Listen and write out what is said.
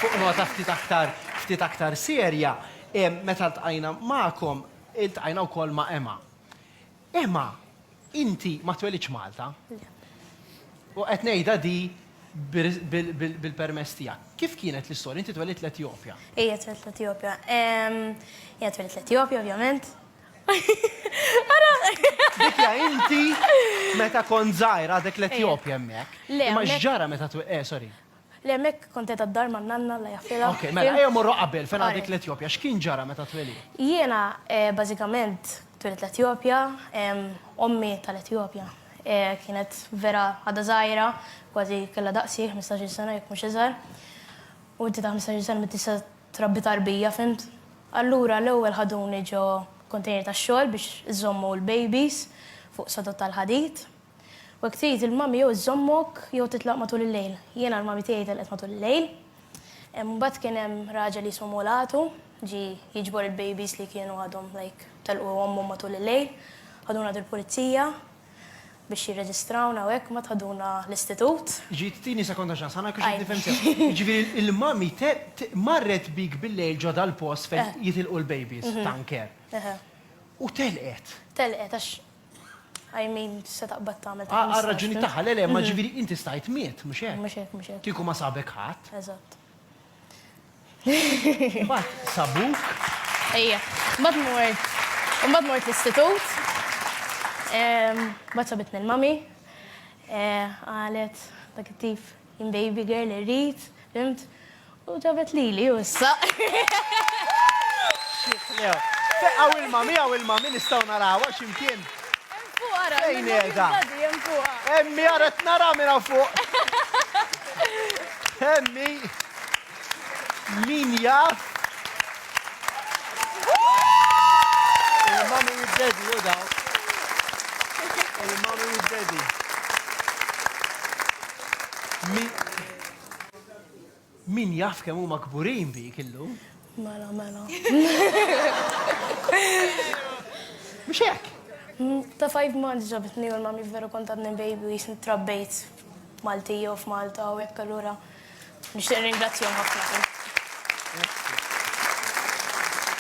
Fuq nota ftit aktar ftit aktar serja, meta ltqajna magħkom, iltqajna wkoll ma' Emma. Emma, inti ma twelidtx Malta. Le. U qed ngħidha di bil-permess tiegħek. Kif kienet l-istorja? Inti twelidt l-Etjopja. Ejja, twelidt l-Etjopja. Ejja, twelidt l-Etjopja, ovvjament. Ara! Dik hija inti meta kont żgħira għadek l-Etjopja hemmhekk. Le, hemmhekk. Imma x'ġara meta twe-, eh, sorry. Le hemmhekk kont qiegħda d-dar man-nanna Alla jaħfirha. Okej, mela ejja mmorru qabel fejn għadek l-Etjopja. X'kien ġara meta twelidt? Jiena bażikament twelidt l-Etjopja. Ommi tal-Etjopja kienet vera għadha żgħira, kważi kellha daqsi, ħmistax-il sena jekk mhux iżgħar. U inti ta' ħmistax-il sena m'int tista' trabbi tarbija, fhimt? Allura l-ewwel ħaduni ġo kontejner tax-xogħol biex iżommu l-babies fuq sodod tal-ħadid. U jekk trid il-mami jew iżżommok jew titlaq matul il-lejl. Jiena l-mami tiegħi telqet matul il-lejl. Imbagħad kien hemm raġel jismu Mulatu, ġie jiġbor il-babies li kienu għadhom like telqu ommhom matul il-lejl. Ħaduna għand il-pulizija biex jirreġistrawna u hekk, mbagħad ħaduna l-istitut. Ġiet tini sekonda x'għax aħna kiex qed nifhem sew. Jiġifieri l-mami marret bik bil-lejl ġo dal-post fejn jitilqu l-babies, tanker. U telqet. Telqet għax I mean, se taqbad tagħmel ta' Għal raġuni tagħha, le le, ma ġifieri inti stajt miet, mhux hekk? Mhux hekk, mhux hekk. Kieku ma sabek ħadd. Eżatt. Mbagħad sabuk. Ejja, mbagħad mort. Mbagħad mort l-istitut. Mbagħad sabitni l-mami. Qalet dak it-tip Jien baby girl irrid, fimt? U ġabet lili u issa. Feqaw ilma, miegħu ilma, min nistgħu narawha x'imkien. Hemm fuq ara, hemm fuq. Emmi ara qed nara minn hawn fuq. Emmi. Min jaf Il-mommy u d-daddy u daw. Il-mommy u d-daddy. Min jaf kemm huma kburin bik illum? Mela, mela. Mhux hekk? Mm, ta' five months ġabitni u l-mami veru kontatni baby u jisni trabbejt Malti jew f'Malta u hekk allura Nixtieq nirringrazzjahom ħafna.